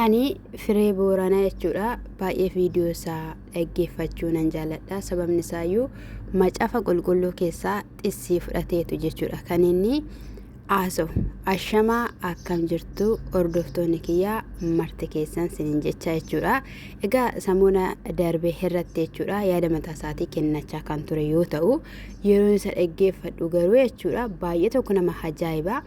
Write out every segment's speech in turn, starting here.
Ani firee booranaa jechuudha baay'ee viidiyoo isaa dhaggeeffachuu nan jaaladha sababni isaayyuu macaafa qulqulluu keessaa xissii fudhateetu jechuudha kan inni haasawu ashamaa akkam jirtu hordoftoonni kiyyaa marti keessan sinin jecha jechuudha egaa samoona darbe irratti jechuudha yaada mataa isaatii kennachaa kan ture yoo ta'u yeroo isa dhaggeeffadhu garuu jechuudha baay'ee tokko nama ajaa'iba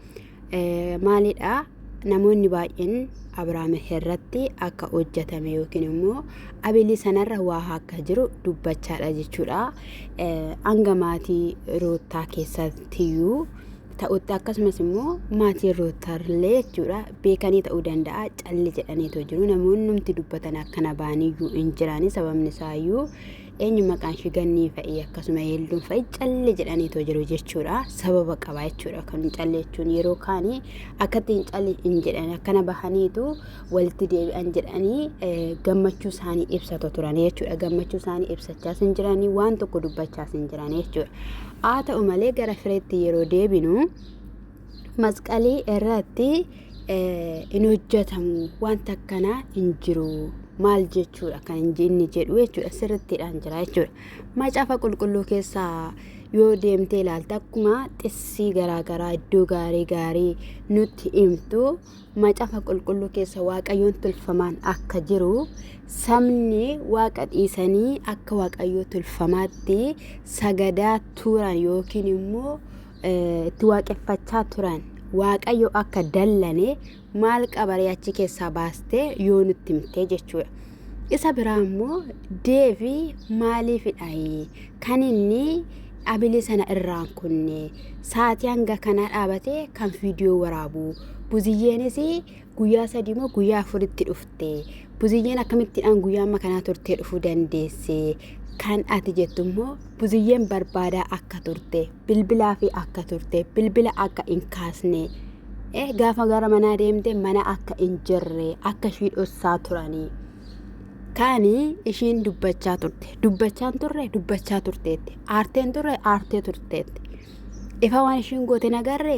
Maalidha? Namoonni baay'een Abrahaam irratti akka hojjetame yookiin immoo Abelii sanarra waa akka jiru dubbachaadha jechuudha. Hanga maatii Ruuttaa keessattiyyuu ta'utti akkasumas immoo maatii Ruuttarlee jechuudha beekanii ta'uu danda'a calli jedhaniitu jiru. Namoonni nuti dubbatan akkana baaniyyuu hin jirani sababni isaayyuu eenyu maqaan ishii gannii fa'i akkasuma yeelduun fa'i callee jedhaniitoo jiru jechuudha sababa qaba jechuudha kan callee jechuun yeroo kaanii akkatti hin callee hin jedhan akkana bahaniitu walitti deebi'an jedhanii eh, gammachuu isaanii ibsatu turan jechuudha gammachuu isaanii ibsachaas hin jiranii waan tokko dubbachaas hin jiran jechuudha haa ta'u malee gara fireetti yeroo deebinu masqalii irratti hin hojjetamu wanta akkanaa hin jiru maal jechuudha kan inni jedhu jechuudha sirrittiidhaan jira jechuudha macaafa qulqulluu keessaa yoo deemtee ilaalte akkuma xissii garaagaraa iddoo gaarii gaarii nutti himtu macaafa qulqulluu keessa waaqayyoon tolfamaan akka jiru sabni waaqa dhiisanii akka waaqayyoo tolfamaatti sagadaa turan yookiin immoo itti waaqeffachaa turan waaqayyo akka dallane maal qabaree achi keessaa baastee yoo nutti himtee jechuudha. Isa biraa immoo deevi maaliifidha kan inni abilii sana irraan kunne sa'aatii hanga kanaa dhaabatee kan viidiyoo waraabu buziyyeenis guyyaa sadii moo guyyaa afuritti dhufte buziyyeen akkamittiidhaan guyyaa amma kanaa turtee dhufuu dandeesse kan ati jettu immoo buziyyeen barbaadaa akka turte bilbilaa fi akka turte bilbila akka hin kaasne eh, gaafa gara manaa deemte mana akka hin jirre akka ishii dhossaa turanii kaani ishiin dubbachaa turte dubbachaan turre dubbachaa turteetti aarteen turre aartee turteetti Ifa waan ishiin goote hin agarre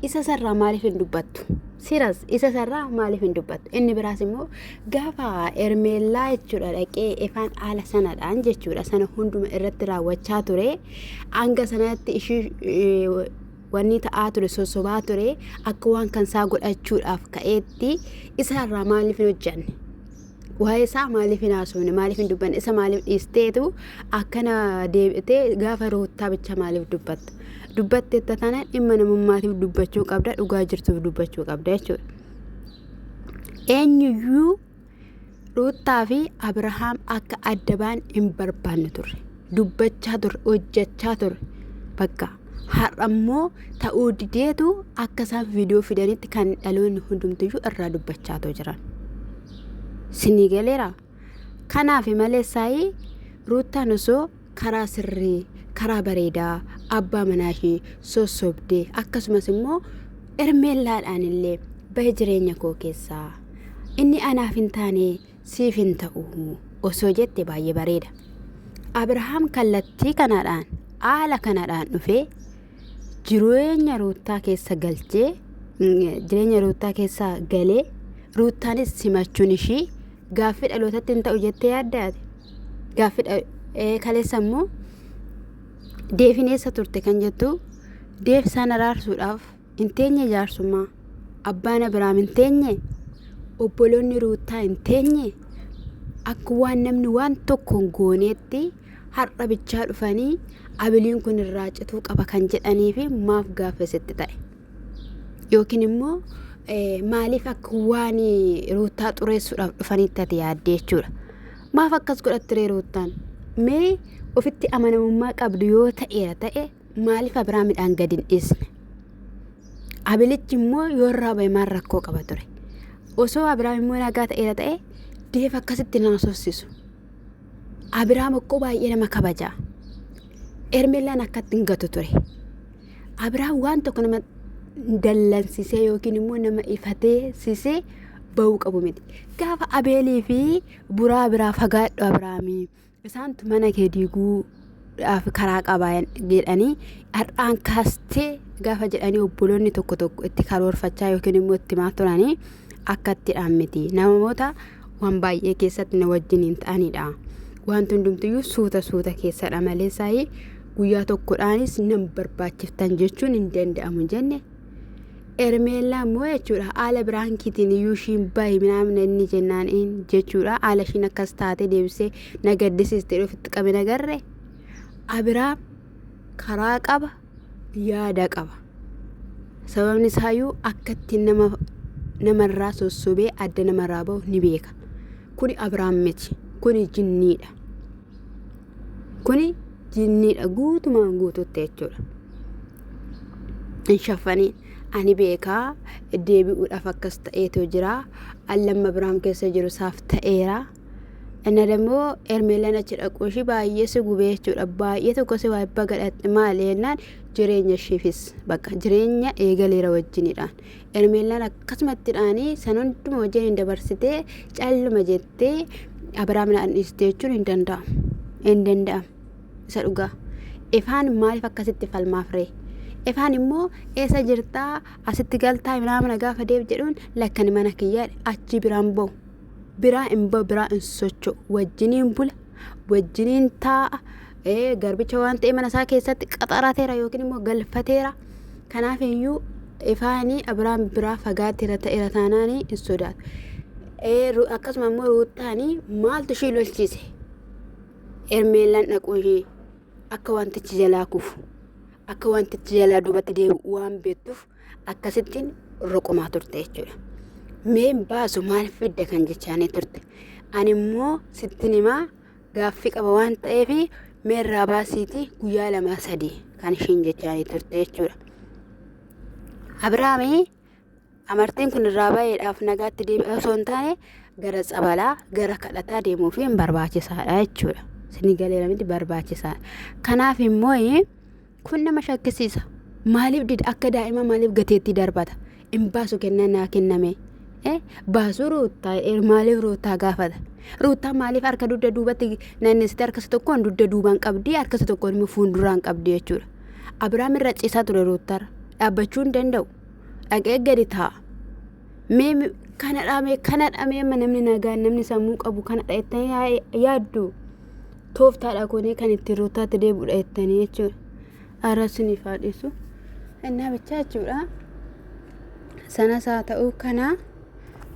isa sarraa maaliif hin dubbattu? Siras isa sarraa maaliif hin dubbattu? Inni biraas immoo gaafa Ermeellaa jechuudha dhaqee ifaan haala sanadhaan jechuudha sana hunduma irratti raawwachaa ture hanga sanatti ishii wanni ta'aa ture sossobaa ture akka waan kan isaa godhachuudhaaf ka'eetti isaarraa maaliif hin hojjanne? waa'ee isaa maaliif hin haasofne maaliif hin dubbanne isa maaliif dhiisteetu akkana deebitee gaafa ruuttaa bicha maaliif dubbatta dubbatte itti tana dhimma namummaatiif dubbachuu qabda dhugaa jirtuuf dubbachuu qabda jechuudha. Eenyuyyuu ruuttaa fi Abirahaam akka adda ba'an hin barbaanne turre dubbachaa turre hojjechaa turre bakka. har'a immoo ta'uu dideetu akka isaan viidiyoo fidanitti kan dhaloonni hundumtiyyuu irraa dubbachaatoo jiran. Sinii galeera. Kanaaf malee saayii ruuttaan osoo karaa sirrii karaa bareedaa abbaa manaa ishee sossobdee akkasumas immoo ermeellaadhaan illee bahe jireenya koo keessaa inni anaaf hin taane siif hin ta'u osoo jette baay'ee bareeda. Abrahaam kallattii kanadhaan haala kanadhaan dhufee jireenya ruuttaa keessa galchee jireenya ruuttaa keessa galee ruuttaanis simachuun ishii gaaffii dhalootatti hin ta'u jettee yaaddaate gaaffii kaleessa immoo deefineessa turte kan jettu deef isaan araarsuudhaaf hin teenye jaarsummaa abbaan abiraam hin teenye obboloonni ruuttaa hin teenye akka waan namni waan tokko hin gooneetti har'a bichaa dhufanii abiliin kun irraa cituu qaba kan jedhanii fi maaf gaafasitti ta'e yookiin immoo eh, maaliif akka waan ruuttaa xureessuudhaaf dhufanitti ati yaadde jechuudha maaf akkas godhattiree ruuttaan mee ofitti amanamummaa qabdu yoo ta'eera ta'e maaliif Abiraamidhaan gad hin dhiisne? Abelichi immoo yoo irraa ba'e maal rakkoo qaba ture? Osoo Abiraam immoo nagaa ta'eera ta'e deef akkasitti nama sossisu. Abiraam akkoo baay'ee nama kabaja. Ermeellaan akkatti hin gatu ture. Abiraam waan tokko nama dallansisee yookiin immoo nama ifatee sisee ba'uu qabu miti. Gaafa Abeelii fi buraa biraa fagaadhu Abiraamii. Isaantu mana kee diiguu dhaaf karaa qaba jedhanii har'aan kaastee gaafa jedhanii obboloonni tokko tokko itti karoorfachaa yookiin immoo itti himaa turanii akka itti dhaan miti. Namoota waan baay'ee keessatti na wajjin hin ta'anidha. Wanti hundumtiyyuu suuta suuta keessadha malee saayii guyyaa tokkodhaanis nan barbaachiftan jechuun hin danda'amu jenne Ermeellaa immoo jechuudha haala biraankiitiin iyyuu ishiin bahi minaamina inni jennaan in jechuudha haala ishiin akkas taate deebisee na gaddisiiste dhufitti qabe nagarre abiraam karaa qaba yaada qaba sababni isaayyuu akka ittiin nama namarraa sossobee adda namarraa bahu ni beeka kuni abiraam miti kuni jinniidha kuni jinniidha guutumaan guututti jechuudha. hin shaffanii ani beekaa deebi'uudhaaf akkas ta'eetu jira allan mabraam keessa jiru saaf ta'eera inna dammoo ermeelan achi dhaquu ishii baay'ee si gubee jechuudha baay'ee tokko si waa ibba gadhatte maali jennaan jireenya ishiifis bakka jireenya eegaleera wajjinidhaan ermeelan akkasumattidhaanii san hunduma wajjin hin dabarsitee calluma jettee abrahaam naan dhiiste jechuun hin danda'amu hin danda'amu isa dhugaa ifaan maaliif akkasitti falmaaf ree ifaan immoo eessa jirtaa asitti galtaa naamana gaafa deeb jedhuun lakkani mana kiyyaa achi biraan ba'u biraa hin ba'u biraa hin socho'u wajjiniin bula wajjiniin taa'a ee garbicha waan ta'e mana isaa keessatti qaxarateera yookiin immoo galfateera kanaaf iyyuu ifaanii abiraan biraa fagaatira ta'eera taanaanii hin sodaatu. Ee, ru- akkasuma immoo ruuttaanii maaltu ishii lolchiise Hermeellaan dhaquu ishee akka wantichi jalaa kufu akka wantichi jalaa duubatti deebi'u waan beektuuf akkasittiin roqumaa turte jechuudha. Meen baasu maal fidda kan jechaanii turte. Ani immoo sittin himaa gaaffii qaba waan ta'eef meerraa baasiitii guyyaa lamaa sadii kan ishiin jechaanii turte jechuudha. Abiraamii Amartiin kun irraa bayeedhaaf nagaatti deebi'aa osoo hin taane gara tsabalaa gara kadhataa deemuu fi hin barbaachisaadha jechuudha. Isinii galeera miti barbaachisaadha. Kanaaf immoo kun nama shakkisiisa. Maaliif dida akka daa'ima maaliif gateettii darbata? Hin baasu kennaa naa kenname. Baasuu ruuttaa maaliif ruuttaa gaafata? Ruuttaa maaliif harka dugda duubatti naannessite harkasa tokkoon dugda duubaan qabdi harkasa tokkoon immoo fuulduraan qabdi jechuudha. Abiraam irra ciisaa ture ruuttaarra dhaabbachuu hin danda'u. dhaqee gadi taa'a. Mee mi- kana dhaamee kana dhaamee amma namni nagaan namni sammuu qabu kana dhaettanii yaa- yaaddu tooftaadha kunii kan ittiin ruutaatti deebi'udha jettanii jechuudha. Arrabsiniif haa dhiisu. Innaa bichaa jechuudha. Sanas haa ta'uu kana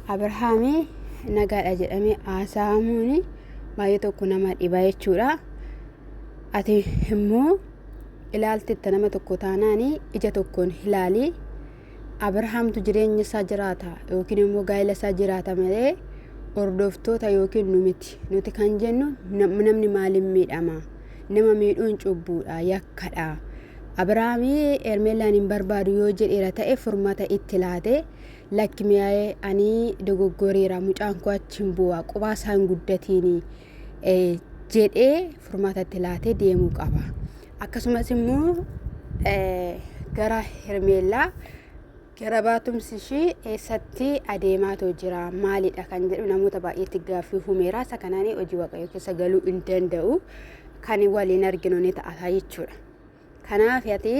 Abrahaamii nagaadha jedhamee haasa'amuun baay'ee tokko nama dhiba jechuudha. Ati immoo ilaaltetta nama tokko taanaan ija tokkoon hilaali abrahaamtu jireenya isaa jiraata yookiin immoo gaa'ila isaa jiraata malee hordoftoota yookiin nu miti nuti kan jennu namni maaliin miidhama nama miidhuun cubbuudha yakkadha abrahaamii ermeellaan hin barbaadu yoo jedheera ta'e furmata itti laate lakki mi'aa'ee ani dogoggoreera mucaan koo achi hin bu'a qubaa isaa hin guddatiini jedhee furmaata itti laatee deemuu qaba. Akkasumas immoo gara Hermeellaa gara baatumsi ishii eessatti adeemaatoo jira maalidha kan jedhu namoota baay'eetti gaaffii humeeraa isa kanaan hojii waaqayyoo keessa galuu hin danda'u kan waliin arginu ni ta'a jechuudha. Kanaaf ati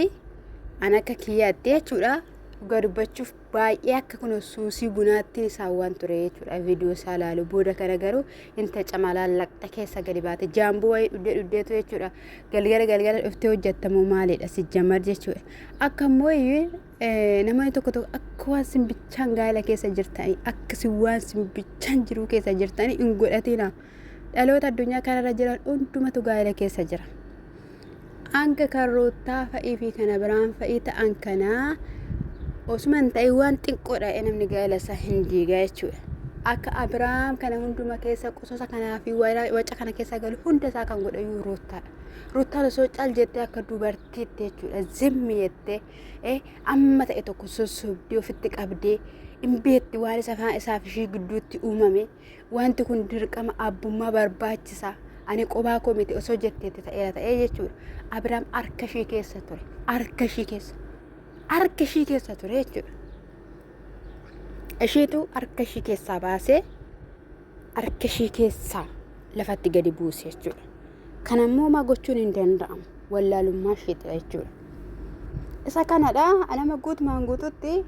an akka kiyyaatti jechuudha dhugaa dubbachuuf baay'ee akka kun suusii bunaatti isaan waan ture jechuudha viidiyoo isaa ilaalu booda kana garuu inta camalaan laqxa keessa gadi baate jaamboo wayii dhuddee dhuddeetu jechuudha galgala galgala dhuftee hojjettamoo maalidha si jamar jechuudha akka immoo namoonni tokko tokko akka waan simbichaan gaala keessa jirtanii akka si waan simbichaan jiruu keessa jirtanii hin godhatina dhaloota addunyaa kanarra jiran hundumatu gaala keessa jira. Hanga kan ruuttaa fa'ii fi kana biraan fa'ii ta'an kana osuma hin ta'in waan xiqqoodha namni gaa'ela isaa hin diigaa jechuudha. Akka Abiraam kana hunduma keessa qosasa kanaa fi waca kana keessa galu hunda isaa kan godhe iyyuu ruuttaadha. Ruuttaan osoo cal jettee akka dubartiitti jechuudha zimmi jettee eh, amma ta'e tokko sossobdee ofitti qabdee hin beekti waan isa faa- isaaf ishii gidduutti uumame. Wanti kun dirqama abbummaa barbaachisa. Ani qobaa koo miti osoo jetteetti ta'eera ta'ee jechuudha. Abiraam harka ishii keessa ture. Harka ishii keessa. Harka ishii keessa ture jechuudha. Ishiitu harka ishii keessaa baasee harka ishii keessaa lafatti gadi buuse jechuudha. Kana immoo homaa gochuun hin danda'amu. Wallaalummaa ishiitidha jechuudha. Isa kanadha nama guutumaan guututti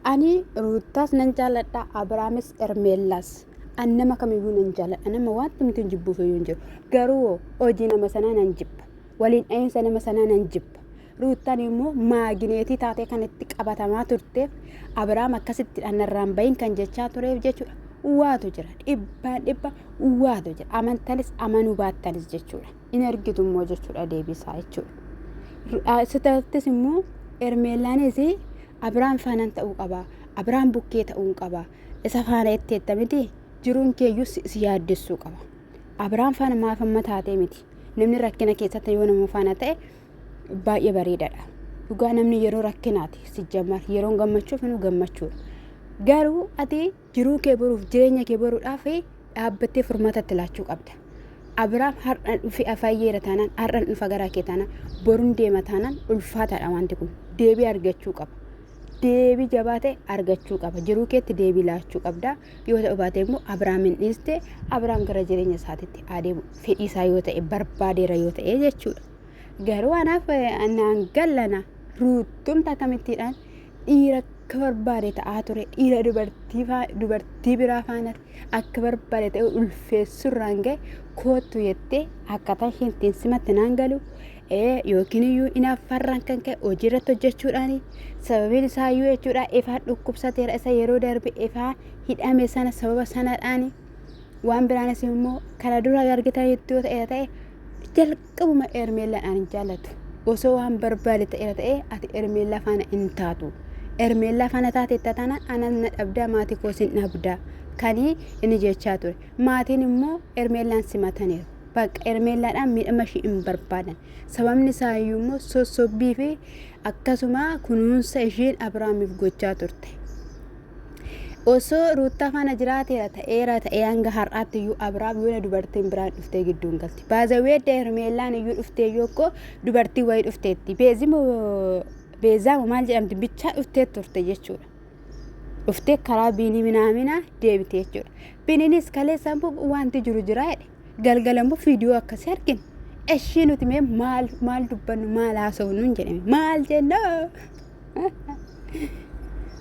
Ani Ruuttaas nan jaalladha, Abraamis, Ermeellaas. An nama kamiyyuu nan jaalladha, nama wanti miti hin jibbuuf iyyuu hin jiru. Garuu hoo hojii nama sanaa nan jibba, waliin dha'iinsa nama sanaa nan jibba. Ruuttaan immoo maagineetii taatee kan itti qabatamaa turteef Abraam akkasitti anarraan bahin kan jechaa tureef jechuudha. Waatu jira, dhibbaan dhibba waatu jira. Amantanis amanuu baattanis jechuudha. in ergitu immoo jechuudha deebisaa jechuudha. Sitattis immoo Ermeellaanis Abiraam faanaan ta'uu qaba. Abiraam bukkee ta'uu qaba. Isa faana itteetta miti jiruun keeyyuu si yaaddessuu qaba. Abiraam faana maaf amma taatee miti. Namni rakkina keessatti yoo nama faana ta'e baay'ee bareedaadha. Dhugaa namni yeroo rakkinaati sijjamar yeroon gammachuuf nu gammachuudha. Garuu ati Jiruu kee boruuf jireenya kee boruudhaaf dhaabbattee furmaata itti laachuu qabda. Abiraam har'a dhufe afayyeera taanaan har'an dhufa garaa kee taanaan borun deema taanaan ulfaataadha wanti kun deebii argachuu qaba. Deebii jabaa ta'e argachuu qaba. Jiruu keetti deebii laachuu qabda. Yoo ta'u baate immoo Abiraamiin dhiiste Abiraam gara jireenya isaatiitti adeemu fedhii isaa yoo ta'e barbaadeera yoo ta'e jechuudha. Garuu anaaf naan gallana ruuttumta akkamittiidhaan dhiira akka barbaade ta'aa ture dhiira dubartii faa- dubartii biraa faana akka barbaade ta'e ulfeessurraan ga'e koottu jettee akkaataa isheen ittiin simatte naan galu ee yookiin iyyuu inaaffaarraan kan ka'e hojii irratti hojjechuudhaani sababiin isaa iyyuu jechuudha ifaan dhukkubsateera isa yeroo darbe ifaan hidhame sana sababa sanadhaani waan biraanis immoo kana dura argitan itti yoo ta'e ta'e jalqaba Qabuma Ermeellaan ani hin jaallatu. Osoo waan barbaade ta'eera ta'ee ati Ermeellaa faana hin taatu. Ermeellaa faana taateetta taana anas na dhabdaa maatii koo sin dhabdaa. Kanii inni jechaa ture. Maatiin immoo Ermeellaan simataniiru. Bakka Ermeellaadhaan miidhama ishii hin barbaadan. Sababni isaa iyyuu immoo sossobbii fi akkasuma kunuunsa isheen Abiraamiif gochaa turte. Osoo Ruuttaa faana jiraateera ta'eera ta'ee hanga har'aatti iyyuu Abiraam yoona dubartiin biraan dhuftee gidduu hin galti. Baazaweedda Hermeellaan iyyuu dhuftee yoo koo dubartii wayii dhufteetti. Beezimo beezaamo maal jedhamti bichaa dhuftee turte jechuudha. Dhuftee karaa biinii minaaminaa deebite jechuudha. Biniinis kaleessaan bubu wanti jiru jira jedhe. Galgala immoo viidiyoo akkasii argine. Eshii nuti mee maal maal dubbannu maal haasofnu hin jedhame maal jenna.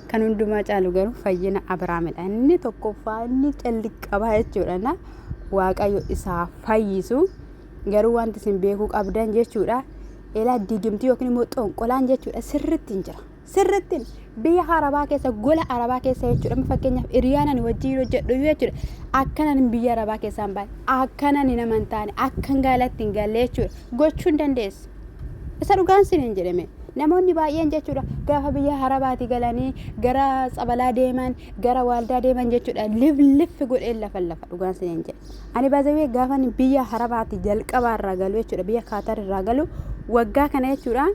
Kan hundumaa caalu garuu fayyina Abiraamidha. Inni tokkoffaa inni calli qabaa jechuudha. Na Waaqayyo isaa fayyisu garuu wanti isin beekuu qabdan jechuudha. Elaa digimtii yookiin immoo xonqolaan jechuudha sirriitti hin jira. sirrittin biyya arabaa keessa gola arabaa keessa jechuudha amma fakkeenyaaf hiriyaan ani wajjin hojjedhu iyyuu jechuudha akkanan hin biyya arabaa keessaa hin baane akkanan hin amantaane akkan gaalatti hin galle jechuudha gochuu hin dandeessu isa dhugaan sin hin jedhame namoonni baay'een jechuudha gaafa biyya arabaati galanii gara tsabalaa deeman gara waaldaa deeman jechuudha lifliffi godheen lafa lafa dhugaan sin hin jedhe ani baazawee gaafa ani biyya arabaati jalqabaa irraa galu jechuudha biyya kaatar irraa galu waggaa kana jechuudha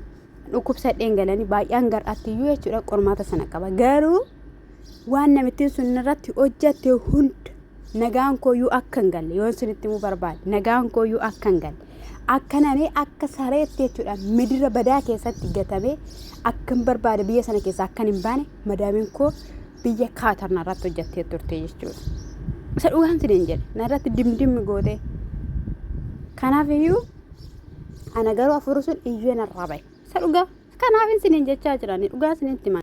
dhukkubsadheen galanii baay'een gar'aattiyyuu jechuudha qormaata sana qaba garuu waan namittiin sun irratti hojjatte hunda nagaan kooyyuu akka hin galle yoon sinitti himuu barbaade nagaan kooyyuu akka hin galle akka namee akka sareetti jechuudha midira badaa keessatti gatamee akka hin barbaade biyya sana keessa akka hin baane madaamiin koo biyya kaatarna irratti hojjattee turte jechuudha. Isa dhugaan siniin jedhe narratti dimdimmi gootee kanaaf iyyuu Ana garuu afurri sun iyyuu narraa bahe. Isa dhugaa kanaaf isiniin jechaa jirani dhugaa isinitti himan.